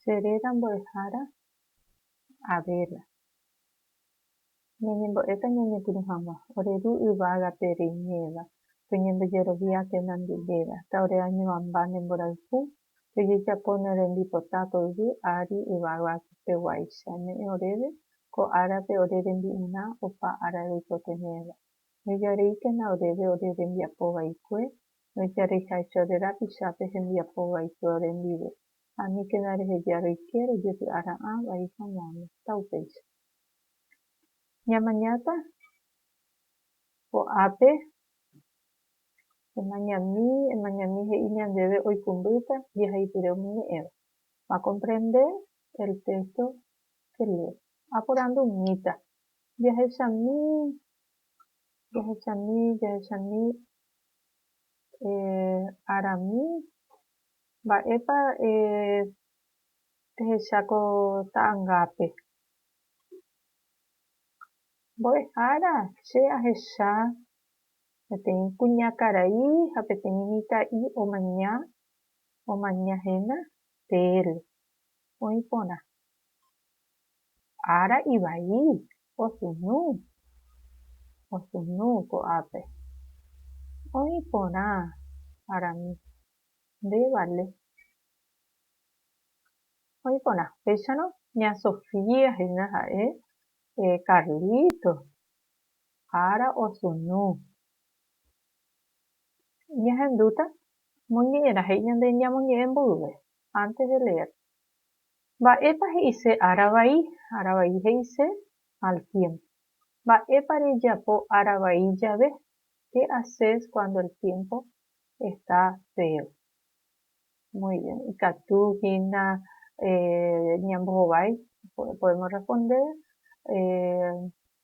Che réra mbo'ehára, avéla. Ñañembo'éta ñañepyrũ hag̃ua, ore Ru yvágape reiméva, toñembojerovia térã nde réra, ta ore añoamba ne mborayhu, tojejapo ne rembipota ko yvy ári yvága peguáicha, ne'ẽ oréve, ko árape ore rembi'urã opa ára reikotevẽva. Nejareíkena oréve ore rembiapo vaikue, Roijarýihaecho rerapichápe hembiapo vai flores ndive, aníkena reheja roike rojepy'ara'ã vai hag̃uáme. Ta upéicha. Ñamañáta ko'ápe, emañami, emañami he'i ñandéve oikũmbýta jehaipyre umi ñe'ẽva. Va comprende el texto que lee. Aporandu umíta. Jahechami, jahechami, jahechami Eh, Arami, mba'épa eh ehecha ko ta'angápe? Mbo'ehára, che ahecha peteĩ kuñakarai ha peteĩ mitã'i omaña, omaña héna térre, oĩ porã. Ára ivai, Pochyndu, pochyndu ko'ápe. Oĩ porã arami, nde vale. Oĩ porã. Péicharõ ña Sofía hína ha'e Carlito ára osynu. Ñahendúta moñe'ẽrã he'i ñande ñamoñe'ẽ mboyve, antes de leer. Mba'épa he'ise ára vai, ára vai he'ise al tiémpo? Mba'épa rejapo ára vai jave? Qué haces cuando el tiempo está feo? Muy bien. Ikatu hína ñambohovái, podemos responder,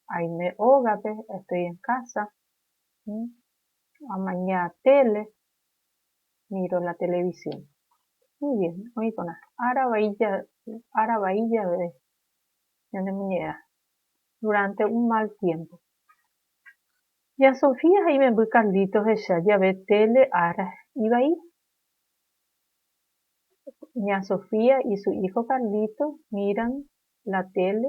Aime ógape, estoy en casa, amaña tele. Miro la televisión. Muy bien, oĩporã. Ára vai jave, ára vai jave ñanemoñe'ẽrã, durante un mal tiempo. Ya Sofía ha imemby Carlito hecha jave tele ára ivai. Ña Sofía y su hijo Carlito miran la tele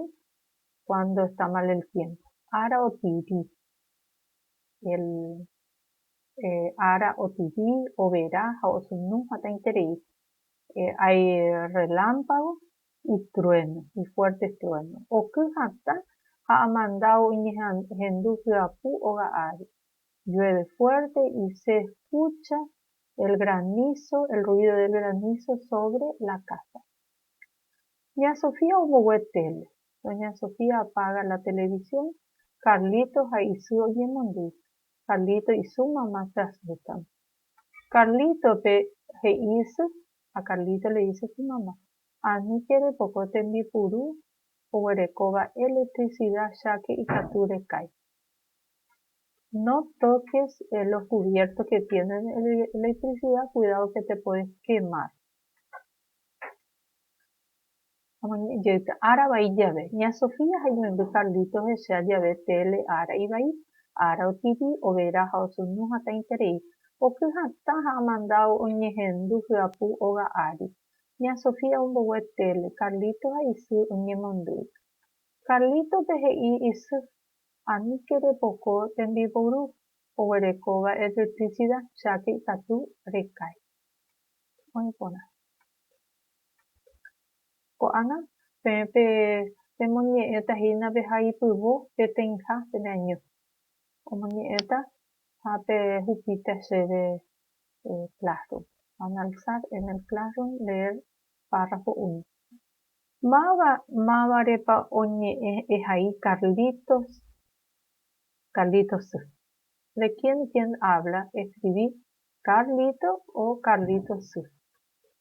cuando está mal el tiempo. Ára otiri el Pe ára otyvi, overa ha osunu hatãiterei. Hay relámpago y trueno, y fuertes truenos. Oky hatã ha amanda oñehendu hyapu óga ári. Llueve fuerte y se escucha el granizo, el ruido del granizo sobre la casa. Ña Sofía ombogue tele. Doña Sofía apaga la televisión, Carlitos ha isy oñemondýi. Carlito isu mamá se asusta. Carlito pe he'i isy ha Carlito le dice su mamá, Ani che repoko tembipuru oguerekóva electricidad cháke ikatu rekái. No toques los cubiertos que tienen electricidad cuidado que te puedes quemar. Oñe'ẽjoika ára vai jave, ña Sofía ha imemby Carlitos hesea jave tele ára ivai, ára otivi, overa ha osuñu hatãiterei. Oky hatã ha amanda oñehendu hyapu óga ári. Ña Sofía ombogue tele, Carlitos ha isy oñemondýi. Carlítope he'i isy, Aníke repoko tembiporu oguerekóva electricidad, cháke ikatu rekái. Oĩ porã. Ko'ág̃a, peẽ pe pemoñe'ẽta hína pe haipyvo peteĩha pene año. Omoñe'ẽta ha pehupíta chéve Classroom. Van a alzar en el Classroom leer párrafo uno. Máva, mávarepa oñe'ẽ ehai Carlitos, Carlitos sy. De quién, quién habla, escribí, Carlito o Carlitos sy.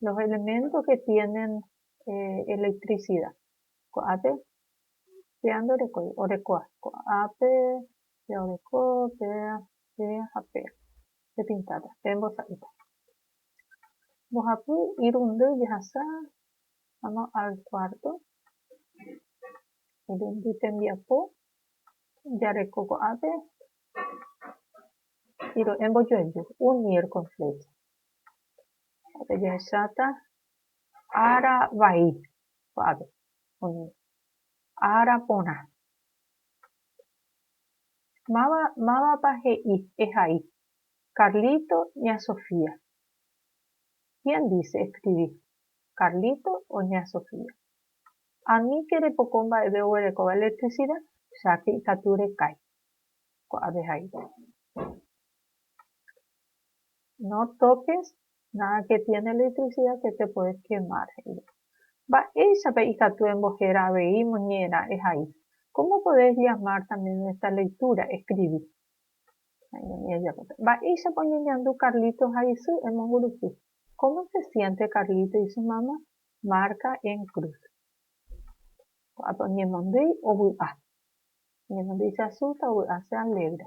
Los elementos que tienen electricidad. Ko'ápe péa ndorekói. Orekóva. Ko'ápe péa oreko, péa, péa ha péa. Pepintáta. Pe mbosa'ýta. Mbohapy irundy jehasa. Vamos al cuarto. Irundy tembiapo jareko ko'ápe. Hiro'e mbojoaju. Unir con flecha. Upépe jahecháta ára vai kuaápe, umi ára porã. Máva, mávapa he'i ehai Carlito ña Sofía? Quién dice escribí Carlito o ña Sofía? Aníke repoko mba'eve oguerekóva electricidad, cháke ikatu rekái. Kuaápe haíta. No toques nada que tiene electricidad que te puedes quemar, he'íva. Mba'éichapa ikatu embohéra avei moñera ehai? Cómo podés llamar también a esta lectura escribí? Ñañemi ejapóta. Mba'éichapa oñeñandu Carlitos ha isy emongurusu? Cómo se siente Carlito y su mamá? Marca en cruz. Ko'ápe oñemondýi ovy'a. Oñemondýi se asusta, ovy'a se alegra.